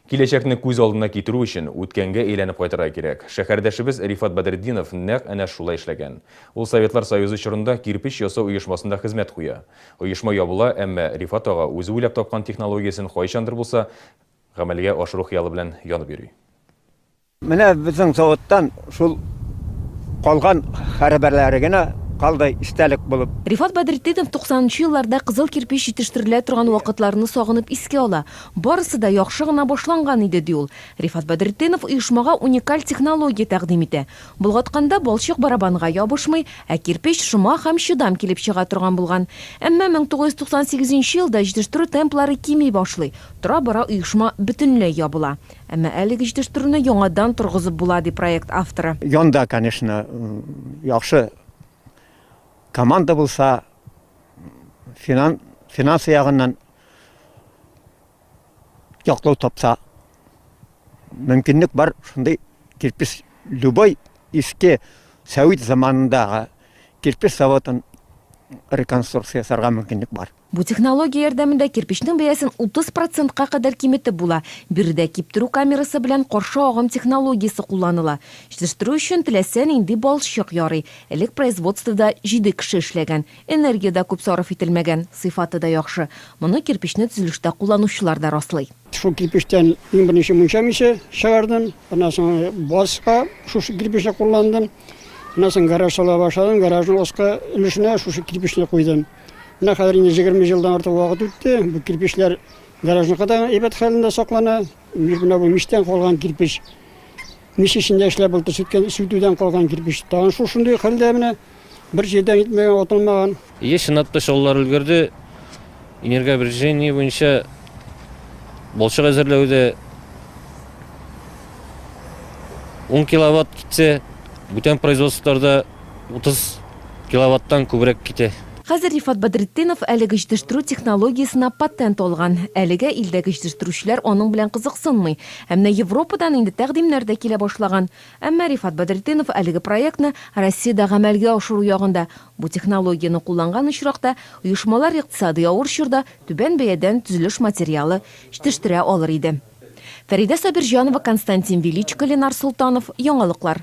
Киләчәкне күз алдына китерү өчен, үткәнгә әйләнеп кайтырга кирәк. Шәһәрдәшебез Рифат Бәдретдинов нәкъ әнә шулай эшләгән. Ул Советлар Союзы чорында кирпеч ясау оешмасында хезмәт куя. Оешма ябыла, әмма Рифат ага үзе уйлап тапкан технологиясен кайчандыр булса гамәлгә ашыру хыялы белән янып йөри. Менә безнең заводтан шул калган хәрабәләре генә калды истәлек булып. Рифат Бәдретдинов 90 нчы елларда кызыл кирпеч җитештерелә торган вакытларны сагынып искә ала. Барысы да яхшы гына башланган иде, ди ул. Рифат Бәдретдинов оешмага уникаль технология тәкъдим итә. Болгатканда балчык барабанга ябышмый, ә кирпеч шома һәм чыдам килеп чыга торган булган. Әмма 1998 нче елда җитештерү темплары кими башлый, тора-бара оешма бөтенләй ябыла. Әмма әлеге җитештерүне яңадан торгызып була, ди проект авторы. Янда, конечно, яхшы команда булса, финансы ягыннан яклау тапса, мөмкинлек бар, шундый кирпеч, любой иске сәвит заманындагы кирпеч заводын реконструкция ясарга мөмкинлек бар. Бу технология ярдәмендә кирпечнең бәясен 30 процентка кадәр киметеп була. Биредә киптерү камерасы белән каршы агым технологиясе кулланыла. Җитештерү өчен теләсә нинди балчык ярый. Элек производствода җиде кеше эшләгән. Энергия дә күп сарыф ителмәгән, сыйфаты да яхшы. Моны кирпечне төзелештә кулланучылар да раслый. Шул кирпечтән иң беренче мунча миче чыгардым. Аннан соң базга шушы кирпечне кулландым. Аннан соң гараж сала башладым. Гаражның аскы өлешенә шушы кирпечне куйдым. Менә хәзер инде җигерме елдан артык вакыт үтте. Бу кирпечләр гаражныкы да әйбәт хәлендә саклана. Менә бу мичтән калган кирпеч. Мич эчендә эшләп булды, сүткән, сүтүдән калган кирпеч. Тагын шул шундый хәлдә менә бер җирдән итмәгән, атылмаган. Еш чынлатпыч олылар өлгерде. Энергообрежение буенча балчык әзерләүдә 10 киловатт китсә, бүтән производстволарда 30 киловаттан күбрәк китә. Хәзер Рифат Бәдретдинов әлеге җитештерү технологиясенә патент алган. Әлегә илдәге җитештерүчеләр аның белән кызыксынмый. Ә менә Европадан инде тәкъдимнәр дә килә башлаган. Әмма Рифат Бәдретдинов әлеге проектны Россиядә гамәлгә ашыру ягында. Бу технологияне кулланган очракта, оешмалар икътисадый авыр чорда түбән бәядән төзелеш материалы җитештерә алыр иде. Фәридә Сабирҗанова, Константин Величко, Ленар Солтанов, Яңалыклар.